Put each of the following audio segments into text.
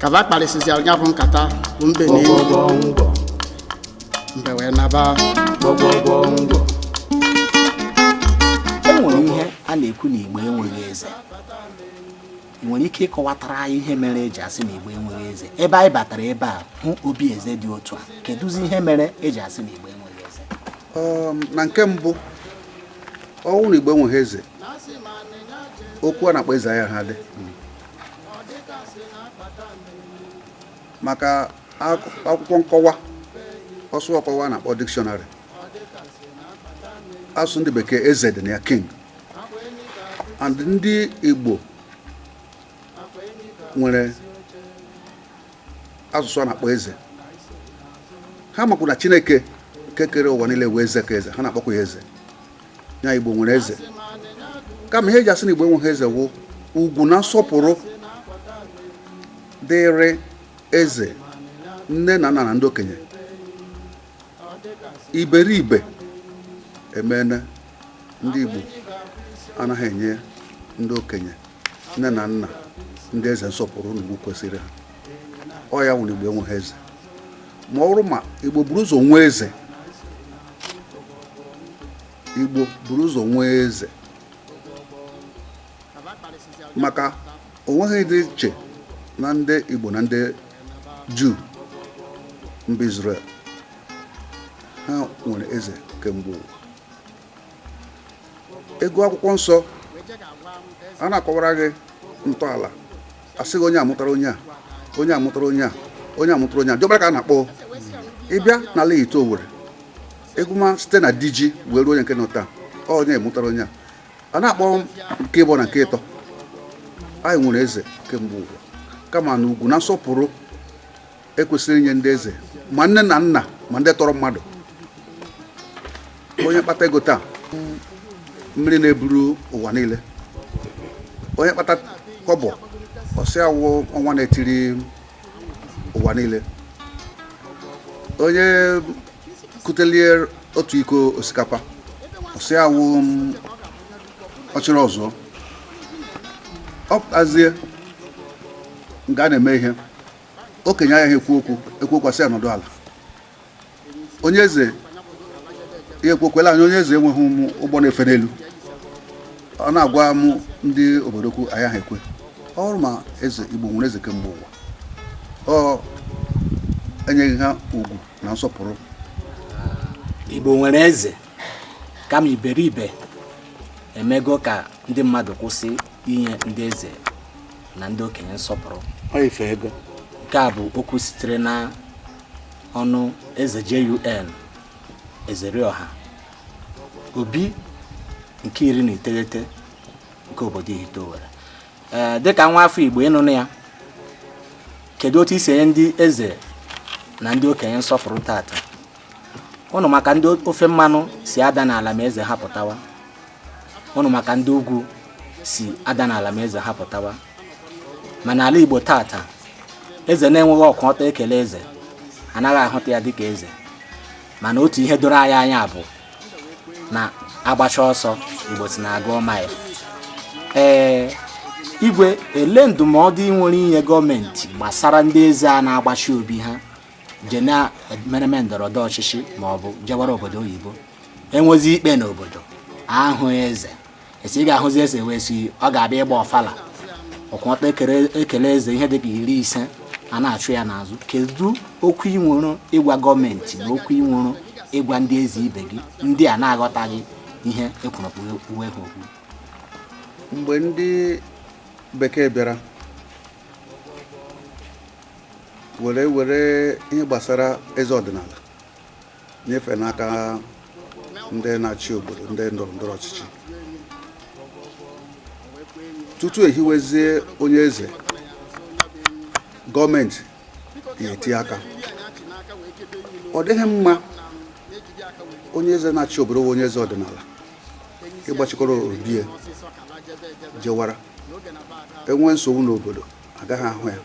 ka ba kparịsịzịara ya bụ nkata bụ mbe na enyi mbe wee naba e nwere ihe a na-ekwu na igbo enweghị eze ị nwere ike ịkọwatara anyị ihe mere eji asị na igbo enweghị eze ebe anyị batara ebe a hụ obi eze dị otu a kedụzi ihe mere eji asị na igbo enweghị eze um, na nke mbụ ọ wụrụ na igbo enweghị eze okwu a na-akpọ eze agaghị adị maka akwụkwọ nkọwa ọsụ ọkọwa a na-akpọ dikshọnarị asụsụ ndị bekee eze dị na ya king and ndị Igbo nwere asụsụ a na-akpọ eze ha makwu na Chineke kekere ụwa niile wụ eze ka eze ha na-akpọkwa ya eze ya igbo nwere eze kama ihe eji asị na igbo enweghị eze wụ ugwu na nsọpụrụ dịrị eze nne na nna na ndị okenye iberibe emene ndị igbo anaghị enye ndị okenye nne na nna ndị eze nsọpụrụ na ugwu kwesịrị ha ọ ya wụ na igbo enweghị eze ma ọ wụrụ ma igbo buru ụzọ nwee eze igbo buru ụzọ nwee eze maka o nweghị ihe dị iche na ndị igbo na ndị juu mba Israel ha nwere eze kemgbe ụwa ị gụọ akwụkwọ nsọ a na-akọwara gị ntọala a sị gị onye amụtara onye a onye amụtara onye a onye amụtara onye a diọkpara ka a na-akpọ ị bịa n'ala Ihitte Owerri ị gụma site na diji wee ruo onye nke nọ taa onye amụtara onye a a na-akpọ nke ịbụọ na nke ịtọ anyị nwere eze kemgbe ụwa kama na ugwu na nsọpụrụ ekwesịrị inye ndị eze ma nne na nna ma ndị tọrọ mmadụ onye kpata ego taa mmiri na-eburu ụwa niile onye kpata kọbọ ọ sị ya wụ ọnwa na-etiri ụwa niile onye kutelie otu iko osikapa ọ sị ya wụ ọchịrị ọzụọ ọ pụtazie nga a na-eme ihe okenye agaghị ekwu okwu e kwuo okwu a sị ya nọdụ ala onye eze ya ekwu okwu e lee ya anya onye eze enweghị ma ụgbọ na-efe n'elu ọ na-agwa m ndị obodo okwu agaghị ekwe ọ bụrụ ma eze igbo nwere eze kemgbe ụwa ọ enyeghị ha ugwu na nsọpụrụ igbo nwere eze kama iberibe emego ka ndị mmadụ kwụsị inye ndị eze na ndị okenye nsọpụrụ ife ego nke a bụ okwu sitere na ọnụ eze JUN Ezerioha Obi nke iri na iteghete nke obodo Ihite Owere ee dịka nwa afọ Igbo ịnụnụ ya kedu otu i si enye ndị eze na ndị okenye nsọpụrụ tata ụnụ ma ka ndị ofe mmanụ si ada n'ala ma eze ha pụtawa ụnụ ma ka ndị ugwu si ada n'ala ma eze ha pụtawa ma n'ala Igbo tata eze na-enweghị ọkwụ ọtọ ekele eze anaghị ahụta ya dịka eze mana otu ihe doro anyị anya bụ na agbacha ọsọ Igbo sị na a gụọ maịl ee igwe elee ndụmọdụ ị nwere inye gọọmenti gbasara ndị eze a na-agbachi obi ha je na emereme ndọrọ ndọrọ ọchịchị ma ọ bụ jewara obodo oyibo enwezi ikpe n'obodo ahụ eze esi ị ga-ahụzi eze wee si ọ ga-abịa ịgba ọfala ọkwụ ọtọ ekele eze ihe dịka iri ise a na-achụ ya n'azụ kedu okwu ị nwere ịgwa gọọmenti na okwu ị nwere ịgwa ndị eze ibe gị ndị a na-aghọtaghị ihe ekwuru uwe ha okwu mgbe ndị bekee bịara were were ihe gbasara eze ọdịnala nyefee n'aka ndị na-achị obodo ndị ndọrọ ndọrọ ọchịchị tutu ehiwezie onye eze gọọmenti ga-eti aka ọ dịghị mma onye eze na-achị obodo onye eze ọdịnala ịgbachikọrọ obie jewara enwee nsogbu n'obodo agaghị ahụ ya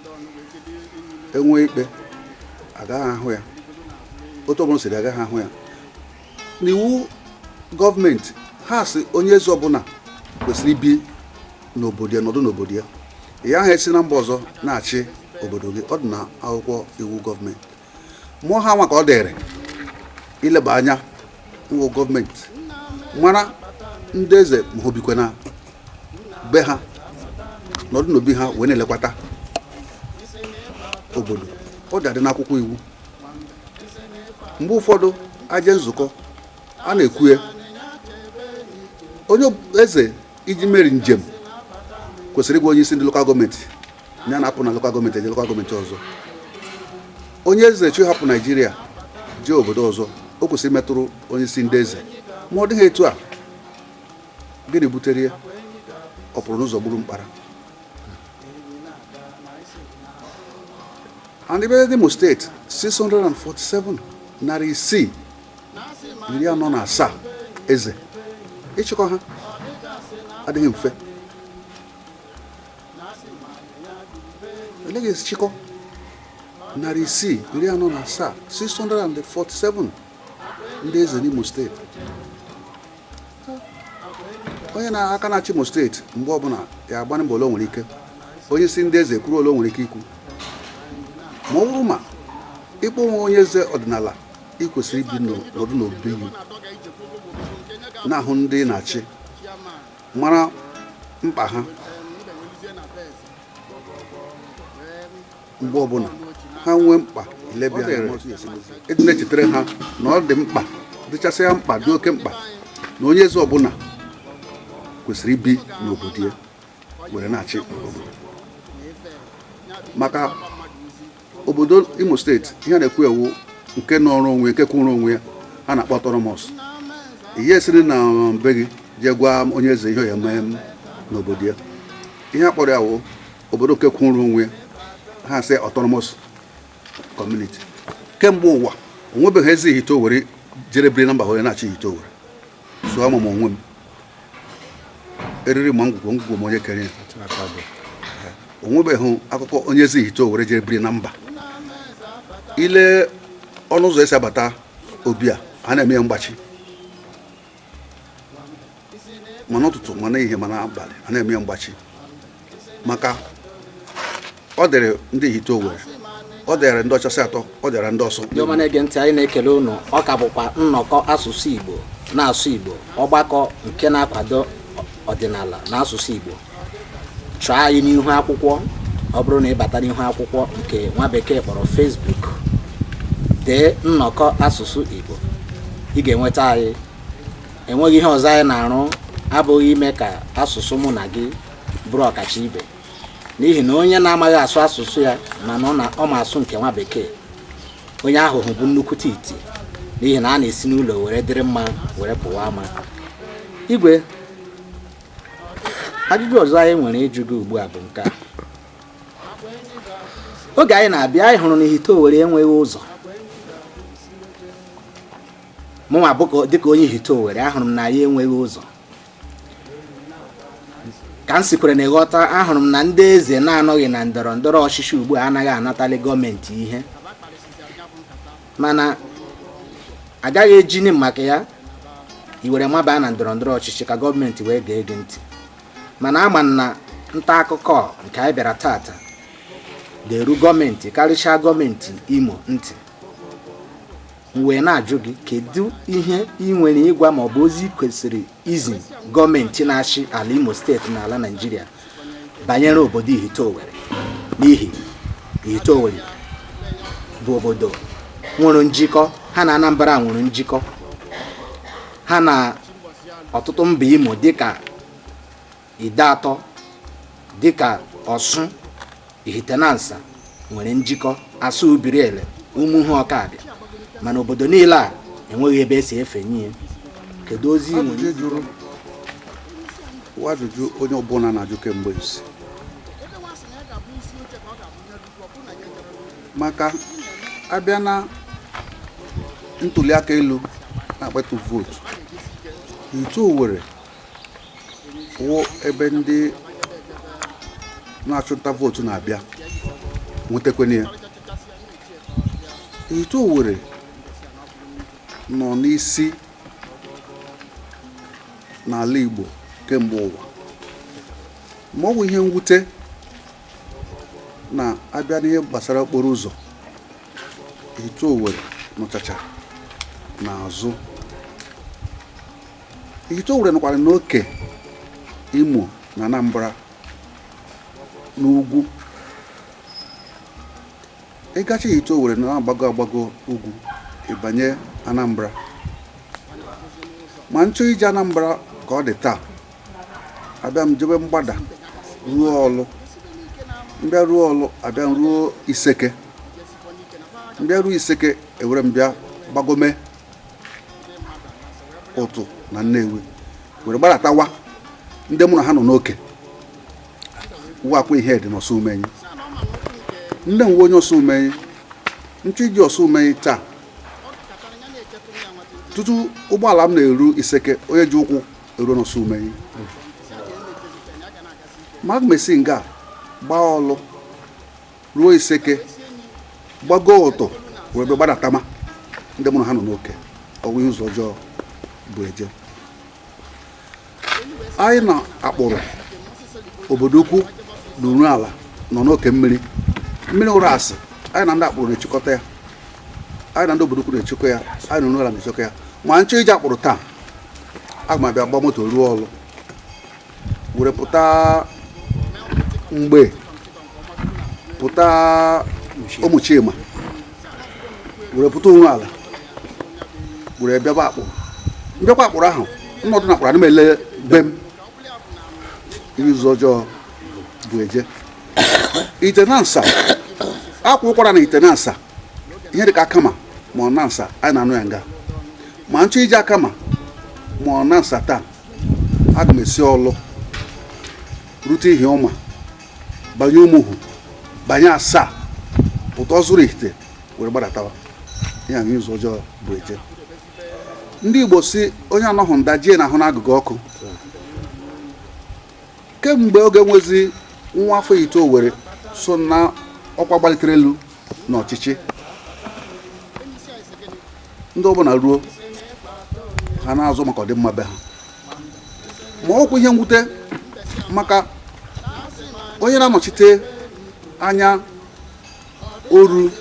enwe ikpe agaghị ahụ ya otu ọbụla siri agaghị ahụ ya n'iwu gọọmenti ha sị onye eze ọbụla kwesịrị ibi n'obodo ya nọdụ n'obodo ya ị gaghị esi na mba ọzọ na-achị obodo gị ọ dị na akwụkwọ iwu gọọmenti ma ọ ha nwa ka ọ dịrị ileba anya n'iwu gọọmenti mara ndị eze ma ha ebikwa na be ha nọdụ n'obi ha wee na-elekwata obodo ọ dị adị n'akwụkwọ iwu mgbe ụfọdụ aje nzukọ a na-ekwue onye eze iji meri njem kwesịrị ịgwa onye isi ndị lokal gọọmenti ya na-apụ na lokal gọọmenti eje lokal gọọmenti ọzọ onye eze chọ ịhapụ naijiria jee obodo ọzọ o kwesịrị imetụrụ onye isi ndị eze ma ọ dịghị etu a gịnị butere ya ọ pụrụ n'ụzọ gburu mkpara and ebe n'Imo steeti 647 narị isii iri anọ na asaa eze ịchịkọ ha adịghị mfe eleghị chịkọ narị isii iri anọ na asaa 647 ndị eze n'Imo steeti onye na-aka na-achị Imo steeti mgbe ọbụla ya agbanye mbọ ole o nwere ike onye isi ndị eze kwuru ole o nwere ike ikwu ma ọ bụrụ ma ị kpọ onwe onye eze ọdịnala ị kwesịrị ibi nọdụ n'obi gị na-ahụ ndị ị na-achị mara mkpa ha mgbe ọbụla ha nwee mkpa ị dị na-echetara ha na ọ dị mkpa dịchasịa mkpa dị oke mkpa na onye eze ọbụla kwesịrị ibi n'obodo ya were na-achị obodo maka obodo imo steeti ihe a na-ekwu a wụ nke nọrọ onwe nke kwụrụ onwe ya ha na-akpọ autonomous ị ya-esiri na be gị jee gwa onye eze ihe ọ ya-eme n'obodo ya ihe a kpọrọ ya wụ obodo nke kwụrụ onwe ya ha sị autonomous community kemgbe ụwa o nwebeghị eze ihite owere jere biri na mba were na-achị ihite owere so ama m onwe m eriri ma ngwugwu ngwugwu ma onye kere ya o nwebeghị akụkọ onye eze ihite owere jee biri na mba i lee ọnụ ụzọ esi abata obi a a na-eme ya mgbachi ma n'ụtụtụ ma n'ehihie ma n'abalị a na-eme ya mgbachi maka ọ dịrị ndị ihite owere ọ dịara ndị ọchasị atọ ọ dịara ndị ọsụ ndị ọma na-ege ntị anyị na-ekele ụnụ ọ ka bụkwa nnọkọ asụsụ igbo na-asụ igbo ọgbakọ nke na-akwado ọdịnala na asụsụ igbo chọọ anyị n'ihu akwụkwọ ọ bụrụ na ị bata n'ihu akwụkwọ nke nwa bekee kpọrọ Facebook dee nnọkọ asụsụ igbo ị ga-enweta anyị enweghị ihe ọzọ anyị na-arụ abụghị ime ka asụsụ mụ na gị bụrụ ọkacha ibe n'ihi na onye na-amaghị asụ asụsụ ya mana ọ ma asụ nke nwa bekee onye ahụ bụ nnukwute iti n'ihi na a na-esi n'ụlọ were dịrị mma were pụwa ama igwe ajụjụ ọzọ anyị nwere ịjụ gị ugbu a bụ nke a oge anyị na-abịa anyị hụrụ na ihite owere enweghị ụzọ mụnwa dịka onye ihite owere ahụrụ m na anyị enweghị ụzọ ka m sikwere na ị ghọta ahụrụ m na ndị eze na-anọghị na ndọrọ ndọrọ ọchịchị ugbu a anaghị anatali gọọmenti ihe mana agaghị ejini maka ya i were mabaa na ndọrọ ndọrọ ọchịchị ka gọọmenti wee gee gị ntị mana ama m na nta akụkọ nke anyị bịara tata ga-eru gọọmenti karịchaa gọọmenti imo ntị wee na-ajụ gị kedu ihe ị nwere ịgwa ma ọ bụ ozi kwesịrị izi gọọmenti na-achị ala Imo steeti na ala Naịjirịa banyere obodo Ihite Owere n'ihi Ihite Owere bụ obodo nwere njikọ ha na Anambra nwere njikọ ha na ọtụtụ mba Imo dịka Ideatọ dịka Ọsụ, Ihitenansa nwere njikọ Asa Ubiriele, Umuhu Ọkabịa mana obodo niile a enweghị ebe esi efenye kedu ozi nwere wụ ajụjụ onye ọbụla na-ajụ kemgbe isi maka abịa na ntuli aka elu na-akpata vootu Ihite Owerri wụ ebe ndị na-achụnta vootu na-abịa nwetakwana ya Ihite Owerri nọ n'isi n'ala Igbo kemgbe ụwa ma ọ wụ ihe mwute na a bịa n'ihe gbasara okporo ụzọ Ihite Owerri nọchacha n'azụ Ihite Owere nọkwara n'oke Imo na Anambra n'ugwu ị gachaa Ihite Owere na-agbago agbago ugwu ị banye Anambra ma m chọọ ije Anambra ka ọ dị taa abịa m jebe mgbada ruo Ọlụ m bịa ruo Ọlụ abịa m ruo Iseke m bịa ruo Iseke ewere m bịa gbagome Utu na Nnewi were gbadatawa ndị mụ na ha nọ n'oke wụ Akwaihedi na Ọsụmenyi nne m wụ onye Ọsụmenyi m chọọ ije Ọsụmenyi taa tutu ụgbọala m na-eru Iseke onye ji ụkwụ eruo n'Ọsụmenyi ma aga m esi nga gbaa Ọlụ ruo Iseke gbago Utu were ebe gbadatama ndị mụ na ha nọ n'oke ọ wụ ihe ụzọ ọjọọ bụ eje anyị na Akpụrụ Obodoukwu na Uruala nọ n'oke mmiri mmiri Ụrasị anyị na ndị Akpụrụ na-echekọta ya anyị na ndị Obodoukwu na-echekọ ya anyị na Uruala na-echekọ ya ma m chọọ ije Akpụrụ taa aga m abịa gbaa moto ruo Ọlụ were pụta Mgbee pụta Ụmụchima were pụta Uruala were bịaba Akpụrụ mbịakwa Akpụrụ ahụ nnọdụ na Akpụrụ ana m ele be m ihe ụzọ ọjọọ bụ eje Ihitenansa a kwaa ụkwara na Ihitenansa ihe dịka Akama ma ọ Nansa anyị na-anụ ya nga ma nchọ ije Akama ma ọ Nansa taa aga m esi Ọlụ rute Ihiọma banye Umuhu banye Asaa pụta Ọzụrụ Ihite were gbadatawa ihe ya ụzọ ọjọọ bụ eje ndị Igbo sị onye anọghị nda ji ya na-ahụ n'agụga ọkụ kemgbe oge enwezi nwa afọ Ihite Owerri so na ọkwa gbalitere elu n'ọchịchị ndị ọbụla ruo ha na-azụ maka ọdịmma be ha ma ọkwa ihe mwute maka onye na-anọchite anya Oru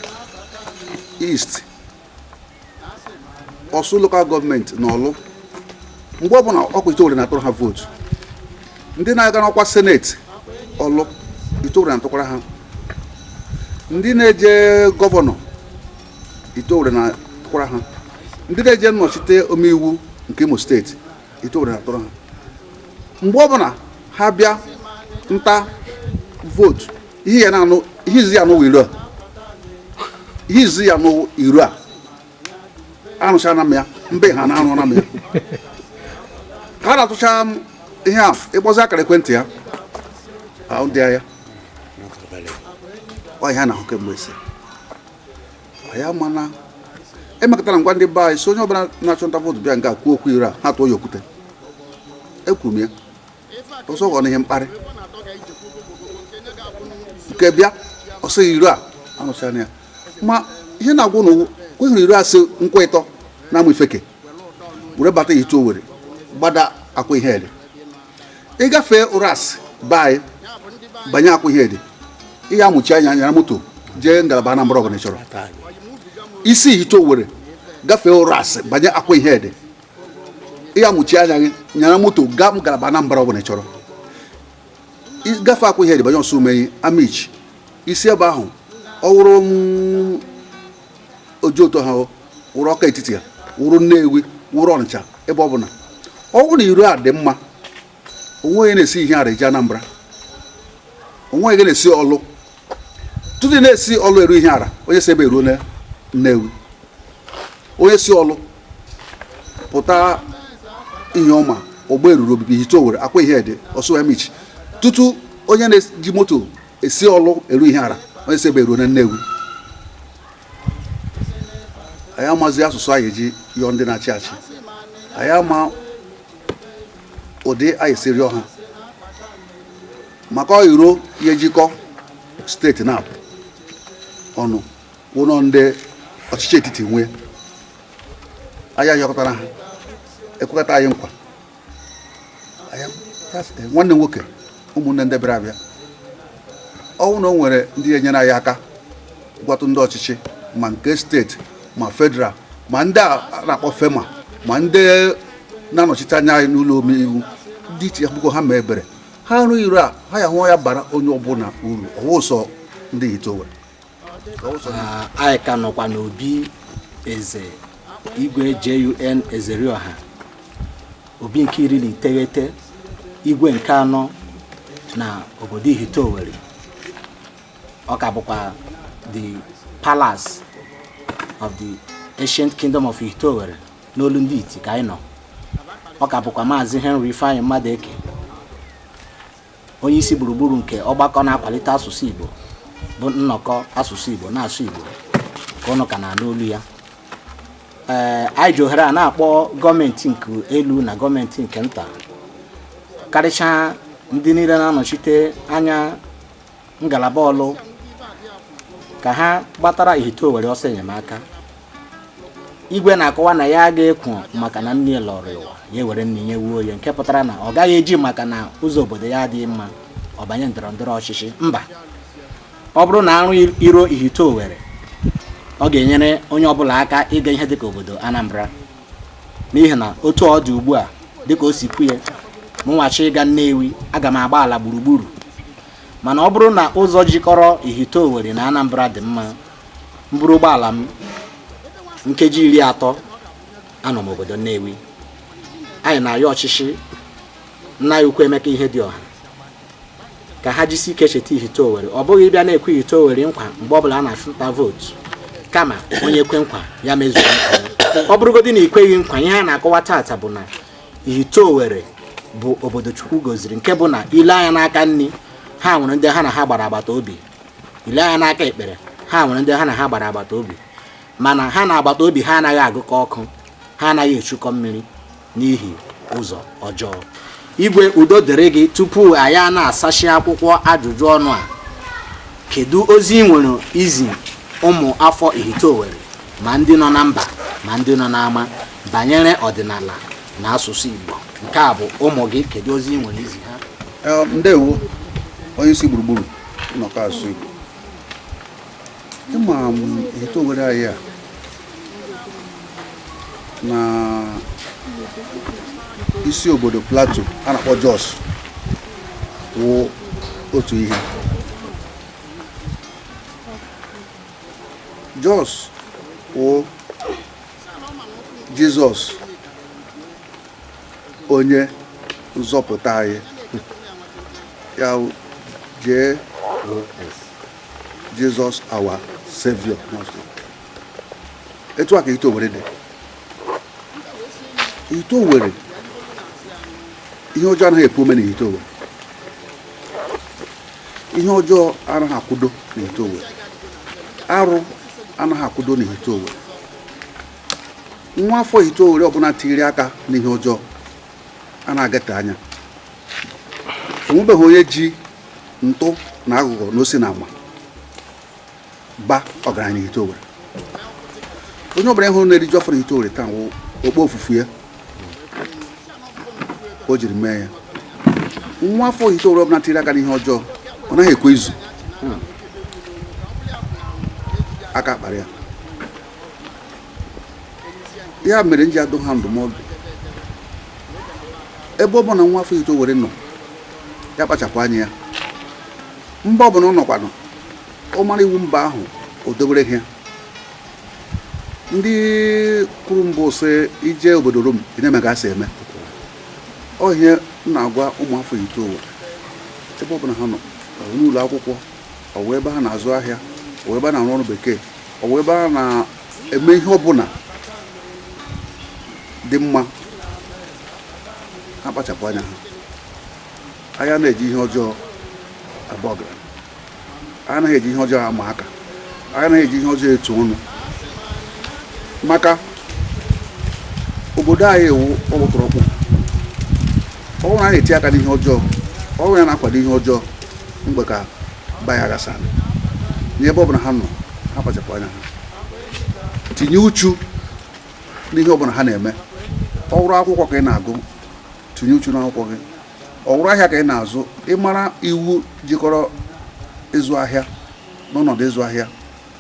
East Ọsụ lokal gọọmenti na Ọlụ mgbe ọbụla ọkwa Ihite Owerri na-atụrụ ha vootu ndị na-aga n'ọkwa seneti Ọlụ Ihite Owerri na-atụkwara ha ndị na-eje gọvanọ Ihite Owerri na-atụkwara ha ndị na-eje nnọchite omeiwu nke Imo steeti Ihite Owerri na-atụrụ ha mgbe ọbụla ha bịa nta vootu ihe ya na-anụ ihe ị ya-anụ wụ iro a arụchana m ya mbe ha na-arụna m ya ka a na-atụcha ihe a ịkpọzi akara ekwentị ya ahụ dị ya ọ ihe a na-ahụ kemgbe ese ya mana emekatara m gwa ndị be anyị sị onye ọbụla na-achụ nta vootu bịa nga kwuo okwu iro a ha tụọ ya okwute ekwuru m ya ọsọ ghọrọ ihe mkparị nke bịa ọ sị iro a arụchana ya ma ihe na-agwa ụnụ ọkwa ịhụrụ iro a si Nkwọịtọ na Amaifeke were bata Ihite Owerri gbada Akwaihedi ị gafee Ụrasị be anyị banye Akwaihedi ị ya amụchi anya nyara moto jee ngalaba Anambra ọbụla ị chọrọ i si Ihite Owerri gafee Ụrasị banye Akwaihedi ị ya amụchi anya gị nyara moto gaa ngalaba Anambra ọbụla ị chọrọ gafe Akwaihedi banye Osumenyi Amichi i si ebe ahụ ọ wụrụ Ojoto ha wụrụ Ọka Etiti ya wụrụ Nnewi wụrụ Ọnịcha ebe ọ bụla ọ bụrụ na iro a dị mma onwee onye na-esi Ihiala eje Anambra onwee onye na-esi Orlu tutu na-esi Orlu eru Ihiala onye si ebe eruona Nnewi onye si Orlu pụta Ihioma Ogberuru Obibi Ihite Owerri Akwaihedi ọsụ Amichi tutu onye na-eji moto esi Orlu eru Ihiala onye si ebe eruona Nnewi anyị amazi asụsụ anyị eji yọọ ndị na-achị achị anyị ama ụdị anyị esi rịọ ha maka ọ iro jikọ steeti naabọ ọ wụnụ ndị ọchịchị etiti nwe ya anyị ayọkatara ha ekwekata anyị nkwa nwanne nwoke ụmụnne ndị bịara abịa ọ wụ na o nwere ndị enyere anyị aka gwatụ ndị ọchịchị ma nke steeti ma federal ma ndị a na-akpọ FERMA ma ndị na-anọchite anya anyị n'ụlọ omeiwu dị iche biko ha mee ebere ha rụọ iro a ha ya hụ ya bara onye ọbụla uru ọ wụ sọ ndị Ihite Owerri ah, anyị ka nọkwa n'obi eze igwe JUN Ezerioha obi nke iri na iteghete igwe nke anọ na obodo Ihite Owerri ọ ka bụkwa the palace of the ancient kingdom of Ihite Owerri n'olu ndị iti ka anyị nọ ọ ka bụkwa maazị Henry Ifeanyi Mmadụeke onye isi gburugburu nke ọgbakọ na-akwalite asụsụ Igbo bụ nnọkọ asụsụ Igbo na-asụ Igbo ka ụnụ ka na-anụ olu ya ee anyị ji ohere a na-akpọ gọọmenti nke elu na gọọmenti nke nta karịchaa ndị niile na-anọchite anya ngalaba Orlu ka ha gbatara Ihite Owerri ọsọ enyemaka igwe na-akọwa na ya ga-ekwo maka na nne lọrọ ụwa ya were nne nye nwunye nke pụtara na ọ gaghị eji maka na ụzọ obodo ya adịghị mma ọ banye ndọrọ ndọrọ ọchịchị mba ọ bụrụ na a rụọ iro Ihite Owerri ọ ga-enyere onye ọbụla aka ịga ihe dịka obodo Anambra n'ihi na otu ọ dị ugbu a dịka o si kwuye mụnwa chọọ ịga Nnewi aga m agba ala gburugburu mana ọ bụrụ na ụzọ jikọrọ Ihite Owerri na Anambra dị mma m buru ụgbọala m nkeji iri atọ anọ m obodo Nnewi anyị na-ayọ ọchịchị nna anyị ukwu Emeka Ihedioha ka ha jisi ike cheta Ihite Owerri ọ bụghị ịbịa na-ekwe Ihite Owerri nkwa mgbe ọ bụla a na-achụta vootu kama onye kwe nkwa ya mezuo ọ bụrụgodị na i kweghị nkwa ihe a na-akọwa taata bụ na Ihite Owerri bụ obodo Chukwu goziri nke bụ na i lee anya n'aka nni ha nwere ndị ha na ha gbara agbata obi ile anya n'aka ekpere ha nwere ndị ha na ha gbara agbata obi mana ha na agbata obi ha anaghị agụkọ ọkụ ha anaghị echukọ mmiri n'ihi ụzọ ọjọọ igwe udo dịrị gị tupu anyị na-asachi akwụkwọ ajụjụ ọnụ a kedu ozi ị nwere izi ụmụ afọ Ihite Owerri ma ndị nọ na mba ma ndị nọ n'ama banyere ọdịnala na asụsụ Igbo nke a bụ ụmụ gị kedu ozi ị nwere izi ha ndewo onye isi gburugburu nnọkọ asụsụ Igbo ị ma Ihite Owerri anyị a na isi obodo Plateau a na-akpọ Jos wụ otu ihe Jos wụ Jizọs onye nzọpụta anyị ya Jesus our Savior etu a ka Ihite Owerri dị Ihite Owerri ihe ọjọọ anaghị epu ome na Ihite Owerri ihe ọjọọ anaghị akwụdo na Ihite Owerri arụ anaghị akwụdo na Ihite Owerri nwa afọ Ihite Owerri ọbụla tiri aka n'ihe ọjọọ a na-agate anya onwebeghị onye ji ntụ na aghụghọ na osi na ama ba ọgaranya na Ihite Owerri onye ọbụla ị hụrụ na-eriju afọ na Ihite Owerri taa wụ okpofufu ya o jiri mee ya nwa afọ Ihite Owerri ọbụla tiri aka n'ihe ọjọọ ọ naghị ekwe izu aka akpara ya ya mere m ji adụ ha ndụmọdụ ebe ọ bụla nwa afọ Ihite Owerri nọ ya kpachapụ anya ya mba ọbụla ọ nọkwanụ ọ mara iwu mba ahụ o dobere ha ndị kwuru mbụ sị i jee obodo Rom ị na-eme ka a si eme ọ ihe m na-agwa ụmụ afọ Ihite Owerri ebe ọbụla ha nọ ọ wụ n'ụlọ akwụkwọ ọ wụ ebe ha na-azụ ahịa ọ wụ ebe a na-arụ ọrụ bekee ọ wụ ebe a na-eme ihe ọbụla dị mma ha kpachapụ anya ha anyị anaghị eji ihe ọjọọ aba ọgaranya anyị anaghị eji ihe ọjọọ ama aka anyị anaghị eji ihe ọjọọ etu ọnụ maka obodo anyị ewu ọkpụtọrọkpụ ọ wụrụ na a na-eti aka n'ihe ọjọọ ọ wụ ya na-akwado ihe ọjọọ mgbe ka bayaghasa n'ebe ọ bụla ha nọ ha kpachapụ anya ha tinye uchu n'ihe ọbụla ha na-eme ọ wụrụ akwụkwọ ka ị na-agụ tinye uchu n'akwụkwọ gị ọ wụrụ ahịa ka ị na-azụ ị mara iwu jikọrọ ịzụ ahịa na ọnọdụ ịzụ ahịa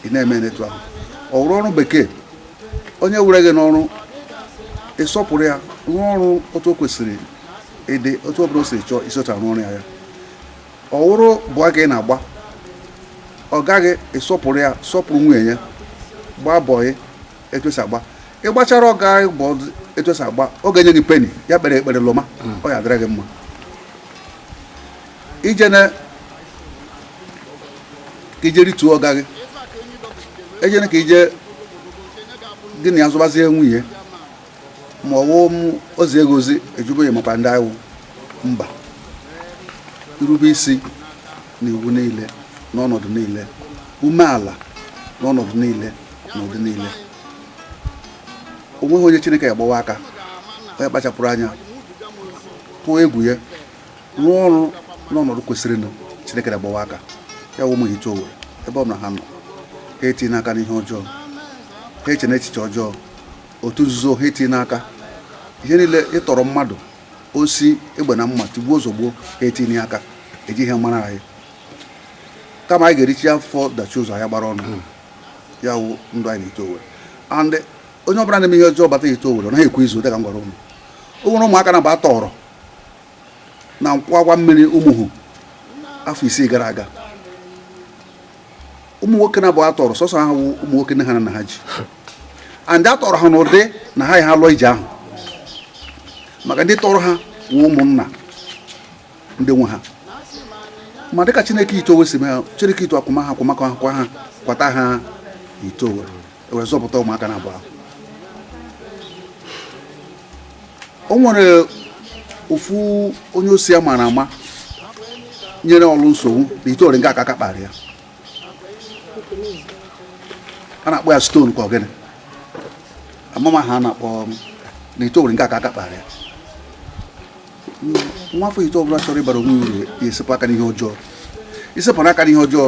ị na-eme n'etu ahụ ọ wụrụ ọrụ bekee onye were gị n'ọrụ ị sọpụrụ ya rụọ ọrụ otu o kwesịrị ịdị otu ọ bụla o siri chọọ i si otu a rụọ ọrụ ya ya ọ wụrụ bọyị ka ị na-agba ọga gị ị sọpụrụ ya sọpụrụ nwunye ya gbaa bọyị etu e si agba ị gbachara ọga gị bọyị etu e si agba ọ ga-enye gị peni ya kpere ekpere lụma ọ ya-adịrị gị mma ejene ka ị je rituo ọga gị ejene ka ị je gị na ya zọbazie nwunye ma ọ wụ ozi ego ozi ejubeghị maka ndị awụ mba irube isi na iwu niile n'ọnọdụ niile umeala n'ọnọdụ niile n'ụdị niile o nweghị onye chineke ya-agbawa aka onye kpachapụrụ anya tụọ egwu ya rụọ ọrụ n'ọnọdụ kwesịrịnụ chineke agbawa aka ya wụ ụmụ Ihite Owerri ebe ọ bụla ha nọ ha etinyene aka n'ihe ọjọọ ha echene echiche ọjọọ otu nzuzo ha etinyene aka ihe niile ịtọrọ mmadụ osi egbe na mma tigbuo zọgbuo ha etinyene aka ejighị ya mara anyị kama anyị ga-erichie afọ dachie ụzọ anyị agbara ọnụ hmm. ya wụ ndụ anyị n'Ihite Owerri and onye ọbụla na-eme ihe ọjọọ bata Ihite Owerri ọ naghị ekwe izu dịka m gwara ụnụ o nwere ụmụaka naabọ a tọrọ na nkwọ akwa mmiri ụmụhu afọ isii gara aga ụmụ nwoke naabọ a tọrọ sọsọ ha wụ ụmụ nwoke nne ha nna ha ji and a tọrọ ha n'ụdị na ha ya ha lụọ ije ahụ maka ndị tọrọ ha wụ ụmụnna ndị nwe ha ma dịka chineke Ihite Owerri si mee ha chineke Ihite akwụma ha akwụmakọ ha kwa ha kwata ha Ihite Owerri e wee zọpụta ụmụaka naabọ ahụ o nwere ofu onye osi a maara ama nyere Orlu nsogbu na Ihite Owerri nga a ka aka kpara ya a na-akpọ ya stone ka ọ gịnị ama m aha a na-akpọ na Ihite Owerri nga a ka aka kpara ya nwafọ Ihite ọbụla chọrọ ịbara onwe ya uru ya esepụ aka n'ihe ọjọọ i sepụrụ aka n'ihe ọjọọ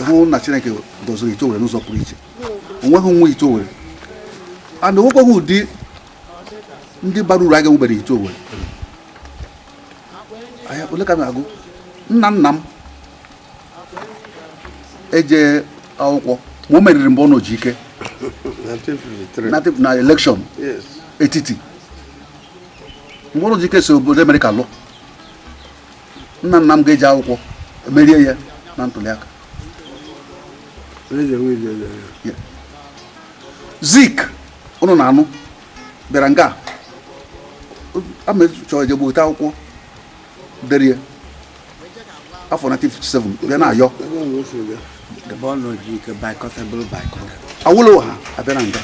hụ na chineke doziri Ihite Owerri n'ụzọ pụrụ iche o nweghị nwa Ihite Owerri and o nwekwaghị ụdị ndị bara uru a ga-enwebere Ihite Owerri ole ka m ga-agụ nna nna m eje akwụkwọ ma o meriri mgbe ọ nọ ji ike na elekshọn etiti Mbonu Ojike si obodo Amerịka lụ nna nna m ga-eji akwụkwọ merie ya na ntụliaka Zik ụnụ na-anụ bịara nga amechọọ jegbu ote akwụkwọ dere afọ 1957 bịa na-ayọ Awolowo ha abịa na nga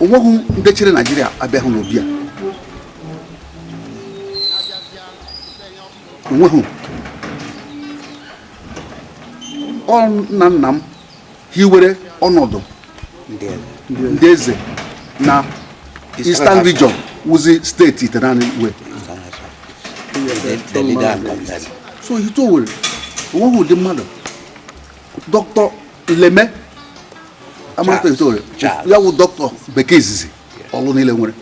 onweghị ndị chịrị Naịjirịa abịaghị n'obi a onweghị ọ nna nna m hiwere ọnọdụ ndị eze na Eastern Region wụzi steeti itenaanị iwe so Ihiteowere onweghị ụdị mmadụ dọkịta Leme amata Ihiteowere ya wụ dọkịta bekee izizi Ọlụ niile nwere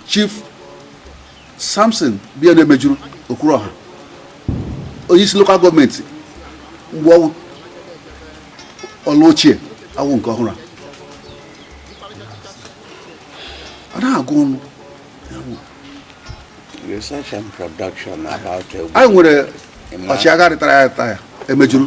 Chief Samson bịa na Emejuru Okwuruọha onye isi lokal gọọmenti mgbe ọ wụ Ọlụ ochie awụ nke ọhụrụ a na-agụ ọnụ anyị nwere ọchịagha rịtayara rịtaya Emejuru